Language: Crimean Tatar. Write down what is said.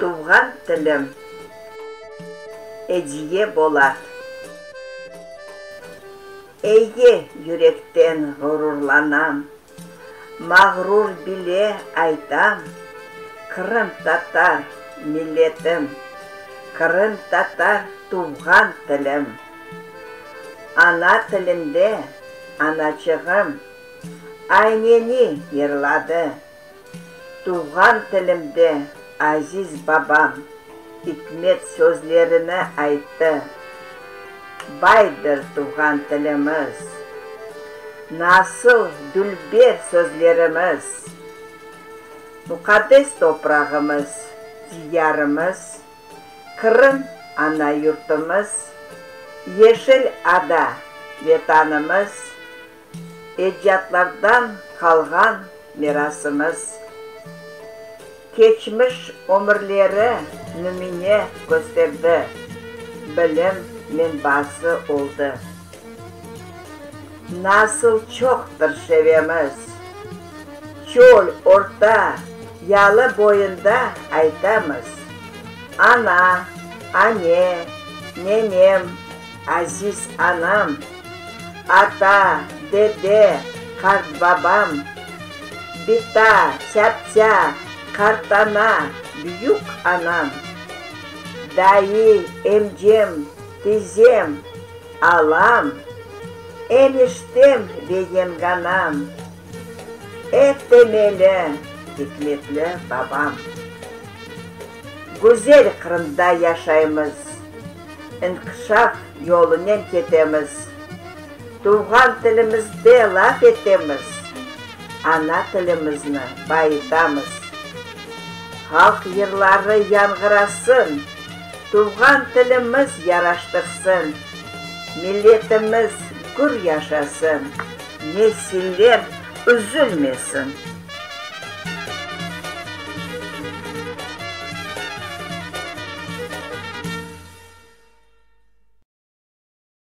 Tuvğan tilim, Ediye Bolat. Eye, yürekten ğururlanam. Mağrur bile aytam, Qırımtatar milletim, Qırımtatar tuvğan tilim. Ana tilimde anaçığım Ayneni yırladı. Tuvğan tilimde, aziz babam, ikmet sözlerini ayttı. Baydır tuvğan tilimiz. Nasıl dülber sözlerimiz. Muqaddes toprağımız, Diyarımız, Qırım, ana yurtumız, Yeşil ada, Vetanımız, Ecdadlardan qalğan mirasımız. Keçmiş ömürleri nümüne kösterdi, bilim menbası oldı. Nasıl çoqtır şevemiz! Çöl, orta, yalı boyunda aytamız, Ana, Ane, Nenem, aziz anam, ata, dede, qartbabam, bita, tâptâ, qartana, büyük anam, dayı, emcem, tizem, alam, eniştem ve yenganam. Et de meni, hikmetli babam. Güzel Qırımda yaşaymız, inkişaf yolunen ketemiz, tuvğan tilimizde laf etemiz, ana tilimizni bayıtamız. Halq yırları yanğırasın, tuvğan tilimiz yaraştırsın, milletimiz gür yaşasın! Nesiller üzülmesin.